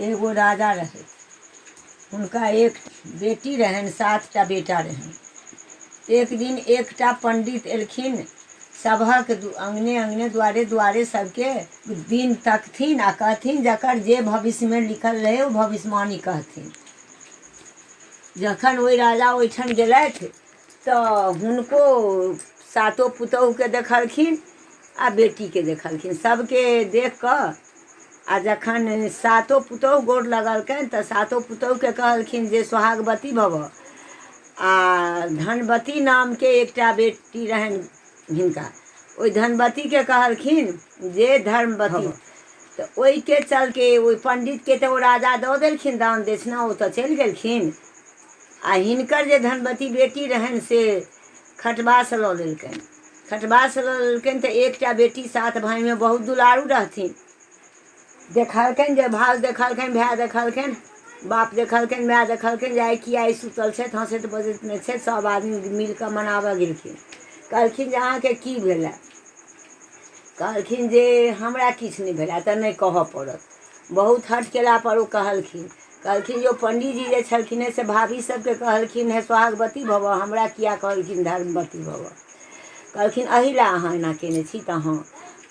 एगो राजा रहे हुनका एक बेटी रहन सातटा बेटा रहन एक दिन एकटा पंडित एलखिन सभक दु- अंगने अंगने द्वारे द्वारे सबके दिन तकथिन आ कहथिन जकर जे भविष्यमे लिखल रहै ओ भविष्यवाणी कहथिन जखन ओहि राजा ओहिठाम गेलथि तऽ हुनको सातो पुतोहुके देखलखिन आ बेटीके देखलखिन सभके देख कऽ आ जखन सातो पुतोहु गोर लगलकनि तऽ सातो पुतोहुके कहलखिन जे सोहागवती भवह आ धनवती नामके एकटा बेटी रहनि हिनका ओहि धनवतीके कहलखिन जे धर्मवती तऽ ओहिके चलके ओहि पण्डितके तऽ ओ राजा दऽ देलखिन दान दक्षिणा ओ तऽ चलि गेलखिन आ हिनकर जे धनवती बेटी रहनि से खटबासँ लऽ लेलकनि खटबासँ लऽ लेलकनि तऽ एकटा बेटी सात भायमे बहुत दुलारू रहथिन देखलकनि जे भाउज देखलकनि भाय देखलकनि बाप देखलकनि माय देखलकनि जे आइ की आइ सुतल छथि हँसैत बजैत नहि छथि सभ आदमी मिलि कऽ मनाबय गेलखिन कहलखिन जे अहाँके की भेलए कहलखिन जे हमरा किछु नहि भेलए तऽ नहि कहऽ पड़त बहुत हट केलापर ओ कहलखिन कहलखिन जे ओ पण्डीजी जे छलखिन हेँ से भाभी सभके कहलखिन हे सोहागवती भवह हमरा किया कहलखिन धर्मवती भवह कहलखिन एहि लए अहाँ एना कयने छी तऽ हँ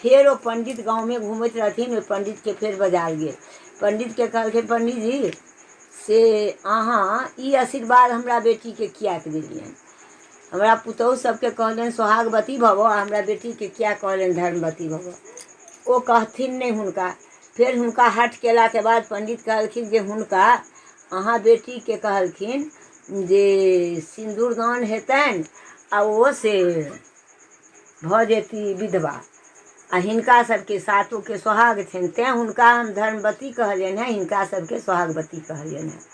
फेर ओ पंडित गाँवमे घूमैत रहथिन ओहि पंडितके फेर बजायल गेल पंडितके कहलखिन पंडीजी से अहाँ ई आशीर्वाद हमरा बेटीके किएक देलियनि हमरा पुतहु सबके कहलनि सोहागवती भवो आ हमरा बेटीके किया कहलनि धर्मवती भवो ओ कहथिन नहि हुनका फेर हुनका हट केलाके बाद पंडित कहलखिन जे हुनका अहाँ बेटीके कहलखिन जे सिन्दूरदान हेतनि आ ओ से भऽ जेती विधवा आ हिनका सभके सातोके सोहाग छनि तैँ हुनका हम धर्मवती कहलियनि हेँ हिनका सभके सोहागवती कहलियनि हेँ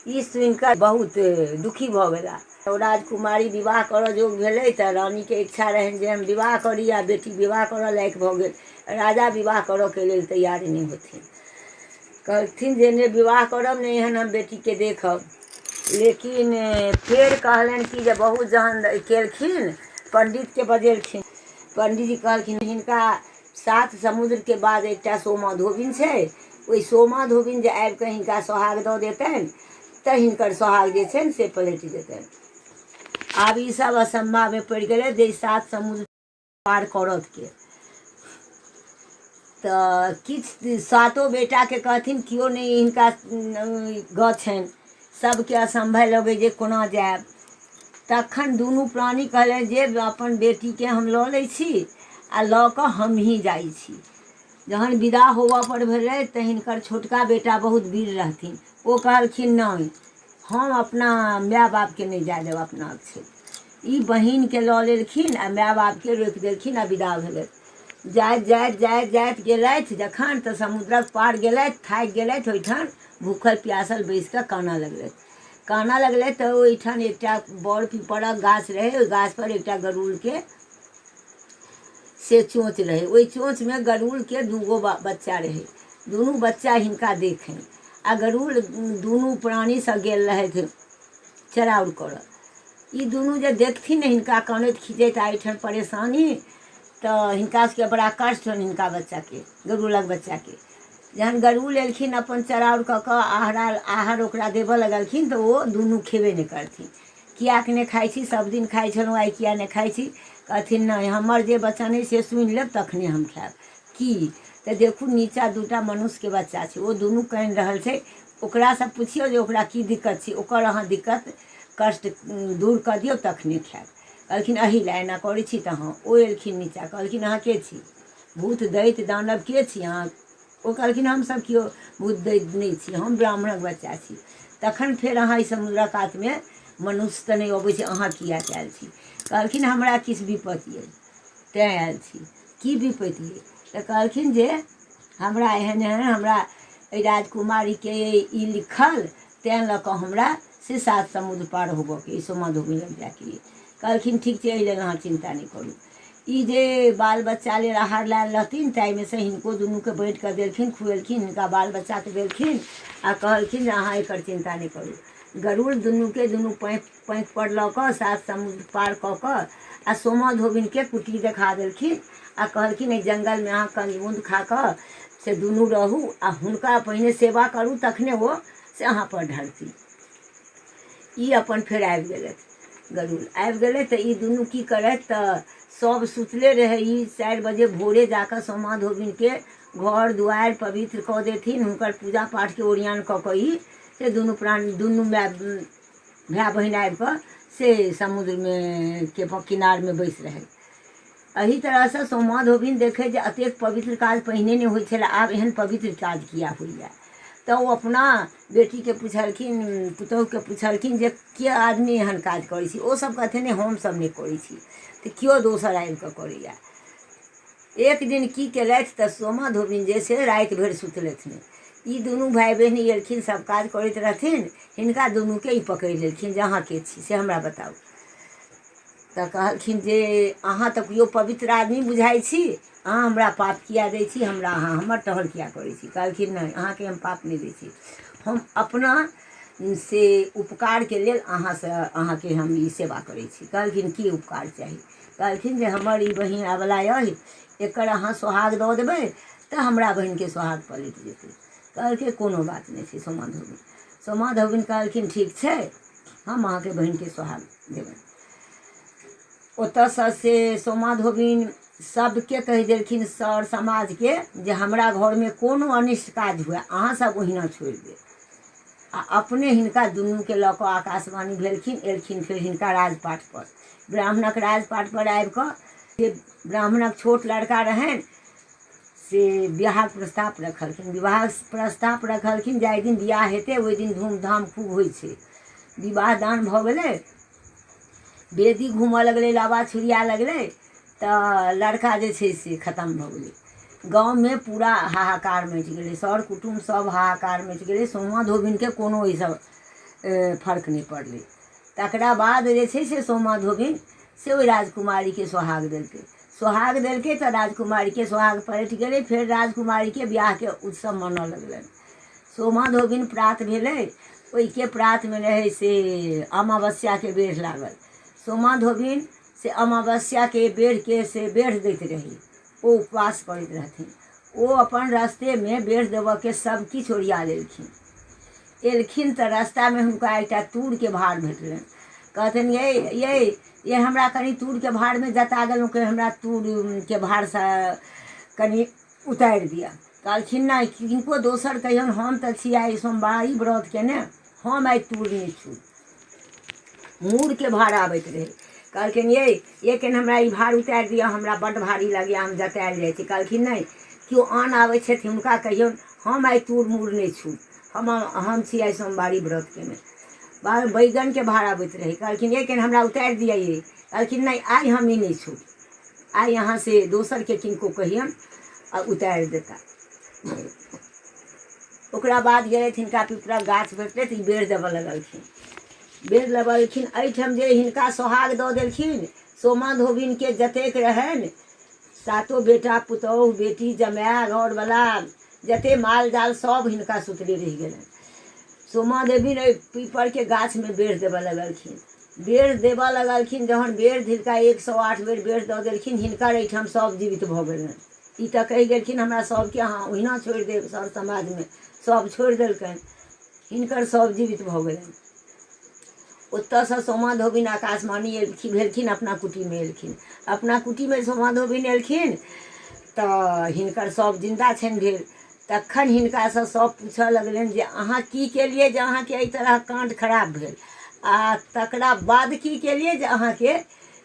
ई सुनि कऽ बहुत दुखी भऽ गेला ओ राजकुमारी विवाह करऽ जोग भेलै तऽ रानीके इच्छा रहनि जे हम विवाह करी आ बेटी विवाह करऽ लायक भऽ गेल राजा विवाह करऽके लेल तैयार नहि होथिन कहलथिन जे नहि विवाह करब नहि एहन हम बेटीके देखब लेकिन फेर कहलनि कि जे बहुत जहन केलखिन पण्डितके बजेलखिन पण्डीजी कहलखिन हिनका सात समुद्रके बाद एकटा सोमा धोबिन छै ओहि सोमा धोबिन जे आबि कऽ हिनका सोहाग दऽ देतनि तऽ हिनकर सोहाग जे छनि से पलटि जेतनि आब ईसभ असम्भावमे पड़ि गेलै जे सात समुद्र पार करत के तऽ किछु सातो बेटाके कहथिन केओ नहि हिनका गत छनि सभके असम्भव लगै जे कोना जायब तखन दुनू प्राणी कहले जे अपन बेटीके हम लऽ लै छी आ लऽ कऽ हमही जाइ छी जहन विदा होबऽ पर भेलै तऽ हिनकर छोटका बेटा बहुत वीर रहथिन ओ कहलखिन नहि हम अपना माय बापके नहि जाय देब अपना छै ई बहिनके लऽ लेलखिन आ माय बापके रोकि देलखिन आ विदा भेलै जाइत जाइत जाइत जाइत गेलथि जखन तऽ समुद्रक पार गेलथि थाकि गेलथि ओहिठाम भूखल प्यासल बैस कऽ कानऽ लगलथि कानऽ लगलथि तऽ ओहिठाम एकटा बड़ पीपरक गाछ रहै ओहि गाछपर एकटा गरुड़के से चोँच रहै ओहि चोँचमे गरुड़के दूगो बच्चा रहै दुनू बच्चा हिनका देखनि आ गरुड़ दुनू प्राणीसँ गेल रहथि चराउर करऽ ई दुनू जे देखथिन ने हिनका कानैत खीजैत आ एहिठाम परेशानी तऽ हिनका सबके बड़ा कष्ट होनि हिनका बच्चाके गरुड़क बच्चाके जहन गरुड़ एलखिन अपन चराउर कऽ कऽ आहरा आहर ओकरा देबऽ लगलखिन तऽ ओ दुनू खेबे नहि करथिन किएक नहि खाइ छी सब दिन खाइ छलहुँ आइ किएक नहि खाइ छी कहथिन नहि हमर जे वचन अइ से सुनि लेब तखने हम खायब कि तऽ देखू नीचाँ दू टा मनुष्यके बच्चा छै ओ दुनू कानि रहल छै ओकरासँ पुछियौ जे ओकरा की दिक्कत छै ओकर अहाँ दिक्कत कष्ट दूर कऽ दियौ तखने खायब कहलखिन अही लए एना करै छी तऽ हँ ओ एलखिन नीचाँ कहलखिन अहाँ के छी भूत दैत दानव के छी अहाँ ओ कहलखिन हमसभ केओ भूत दैत नहि छी हम ब्राह्मणक बच्चा छी तखन फेर अहाँ ई समुद्रक कातमे मनुष्य तऽ नहि अबै छै अहाँ किया कयल छी कहलखिन हमरा किछु विपत्ति अछि तैँ आयल छी की विपति अइ तऽ कहलखिन जे हमरा एहन एहन हमरा एहि राजकुमारीके ई लिखल तैँ लऽ कऽ हमरा से सात समुद्र पार होबऽके अइ सोमा धोबी लग जायके अइ कहलखिन ठीक छै एहि लेल अहाँ चिन्ता नहि करू ई जे बाल बच्चा लेल आहार लायल रहथिन ताहिमे से हिनको दुनूके बाँटि कऽ देलखिन खुएलखिन हिनका बाल बच्चाके देलखिन आ कहलखिन जे अहाँ एकर चिन्ता नहि करू गरुड़ दुनूके दुनू पैँ पैंक पर लऽ कऽ सात समुद्र पार कऽ कऽ आ सोमा धोबिनके कुटी देखा देलखिन आ कहलखिन एहि जंगलमे अहाँ कंजमुंद खा कऽ से दुनू रहू आ हुनका पहिने सेवा करू तखने ओ से अहाँ पर ढरती ई अपन फेर आबि गेलथि गरुड़ आबि गेलथि तऽ ई दुनू की करथि तऽ सभ सुतले रहै ई चारि बजे भोरे जा कऽ सोमा धोबिनके घर दुआरि पवित्र कऽ देथिन हुनकर पूजा पाठके ओरियान कऽ कऽ ई से दुनू प्राणी दुनू माय भाय बहिन आबि कऽ से समुद्रमे के किनारमे बैस रहल एहि तरहसँ सोमा धोबिन देखै जे एतेक पवित्र काज पहिने नहि होइ छलै आब एहन पवित्र काज किया होइए तऽ ओ अपना बेटीके पुछलखिन पुतोहुके पुछलखिन जे के आदमी एहन काज करै छी ओसभ कहथिन नहि हमसभ नहि करै छी तऽ केओ दोसर आबि कऽ करैए एक दिन की केलथि तऽ सोमा धोबिन जे छै राति भरि सुतलथि नहि ई दुनू भाय बहिन एलखिन सब काज करैत रहथिन हिनका दुनूके ई पकड़ि लेलखिन जे अहाँ के छी से हमरा बताउ तऽ कहलखिन जे अहाँ तऽ केओ पवित्र आदमी बुझाइ छी अहाँ हमरा पाप किया दै छी हमरा अहाँ हमर टहल किया करै छी कहलखिन नहि अहाँके हम पाप नहि दै छी हम अपना से उपकारके लेल अहाँसँ अहाँके हम ई सेवा करै छी कहलखिन की उपकार चाही कहलखिन जे हमर ई बहिन अबला अहि एकर अहाँ सोहाग दऽ देबै तऽ हमरा बहिनके सोहाग पलटि जेतै कहलकै कोनो बात नहि छै सोमा धोबिन सोमा धोबिन कहलखिन ठीक छै हम अहाँके बहिनके सोहाग देबनि ओतऽसँ से सोमा धोबिन सभके कहि देलखिन सर समाजके जे हमरा घरमे कोनो अनिष्ट काज हुए अहाँसभ ओहिना छोड़ि देब आ अपने हिनका दुनूके लऽ कऽ आकाशवाणी भेलखिन एलखिन फेर हिनका राजपाटपर ब्राह्मणक राजपाटपर आबि कऽ जे ब्राह्मणक छोट लड़का रहनि से विवाहक प्रस्ताव रखलखिन विवाह प्रस्ताव रखलखिन जाहि दिन विवाह हेतै ओहि दिन धूमधाम खूब होइ छै विवाह दान भऽ गेलै बेदी घूमय लगलै लाबा छुरिया लगलै तऽ लड़का जे छै से खतम भऽ गेलै गाँवमे पूरा हाहाकार मचि गेलै सर कुटुम सभ हाहाकार मचि गेलै सोमा धोबिनके कोनो एहिसँ फर्क नहि पड़लै तकरा बाद जे छै से सोमा धोबिन से ओहि राजकुमारीके सोहाग देलकै सोहाग देलकै तऽ राजकुमारीके सोहाग पलटि गेलै फेर राजकुमारीके बिआहके उत्सव मनऽ लगलनि सोमा धोबिन प्रात भेलै ओहिके प्रातमे रहै से अमावस्याके बेढ़ लागल सोमा धोबिन से अमावस्याके बेढ़के से बेढ़ दैत रहै ओ उपवास करैत रहथिन। ओ अपन रस्तेमे बेढ़ देबऽके सभ किछु ओरिया लेलखिन। एलखिन तँ रस्तामे हुनका एकटा तूरके भार भेटलनि। कहथिन यै, यै, यै हमरा कनी तूरके भारमे जता गेलहुँ कै हमरा तूरके भारसँ कनी उतारि दिअ। कहलखिन नहि, किनको दोसर कहियौन हम तँ छी आइ सोमवारी व्रत केने। हम आइ तूरने छू मूरके भार आबैत रहै कहलखिन ये ये केन हमरा ई भार उतारि दिअ हमरा बड्ड भारी लगैए हम जतायल जाइ छी कहलखिन नहि केओ आन आबै छथि हुनका कहियौन हम आइ तूर मूर नहि छू हम हम छी आइ सोमवारी व्रत केने बाबा बैगनके भार आबैत रहै कहलखिन ये केन हमरा उतारि दिअ ये कहलखिन नहि आइ हम ई नहि छू आइ अहाँ से दोसरके किनको कहियौन आ उतारि देता ओकरा बाद गेलथि हिनका पिपरक गाछ भेटलै तऽ ई बेर देबऽ लगलखिन बेर लगलखिन एहिठाम जे हिनका सोहाग दऽ देलखिन सोमा धोबिनके जतेक रहनि सातो बेटा पुतोहु बेटी जमाय घरवला जते माल जाल सभ हिनका सुतले रहि गेलनि सोमा देवी ने पीपरके गाछमे बेर देबऽ लगलखिन बेर देबऽ लगलखिन जहन बेर धिलका एक सए आठ बेर बेर दऽ देलखिन हिनकर एहिठाम सभ जीवित भऽ गेलनि ई तऽ कहि गेलखिन हमरा सभके अहाँ ओहिना छोड़ि देब सर समाजमे सभ छोड़ि देलकनि हिनकर सभ जीवित भऽ गेलनि ओतयसँ सोमा धोबिन आकाशवाणी एलखिन भेलखिन अपना कुटीमे एलखिन अपना कुटीमे सोमा धोबिन एलखिन तऽ हिनकर सभ जिन्दा छनि भेल तखन हिनकासँ सभ पूछय लगलनि जे अहाँ की केलियै जे अहाँके एहि तरह काण्ड खराब भेल आ तकरा बाद की केलियै जे अहाँके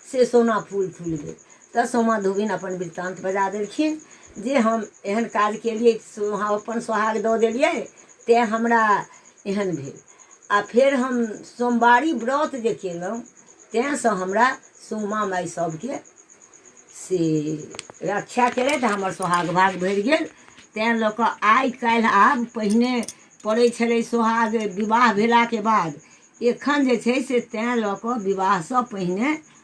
से सोना फूल फूल भेल तऽ सोमा धोबिन अपन वृत्तान्त बजा देलखिन जे हम एहन काज केलियै हम अपन सोहाग दऽ देलियै तैँ हमरा एहन भेल आ फेर हम सोमवारी व्रत जे केलहुँ तैँसँ हमरा सोमा माय सभके से रक्षा केलथि हमर सोहाग भाग भरि गेल तैँ लऽ कऽ आइ काल्हि आब पहिने पड़ै छलै सोहाग विवाह भेलाके बाद एखन जे छै से तैँ लऽ कऽ विवाहसँ पहिने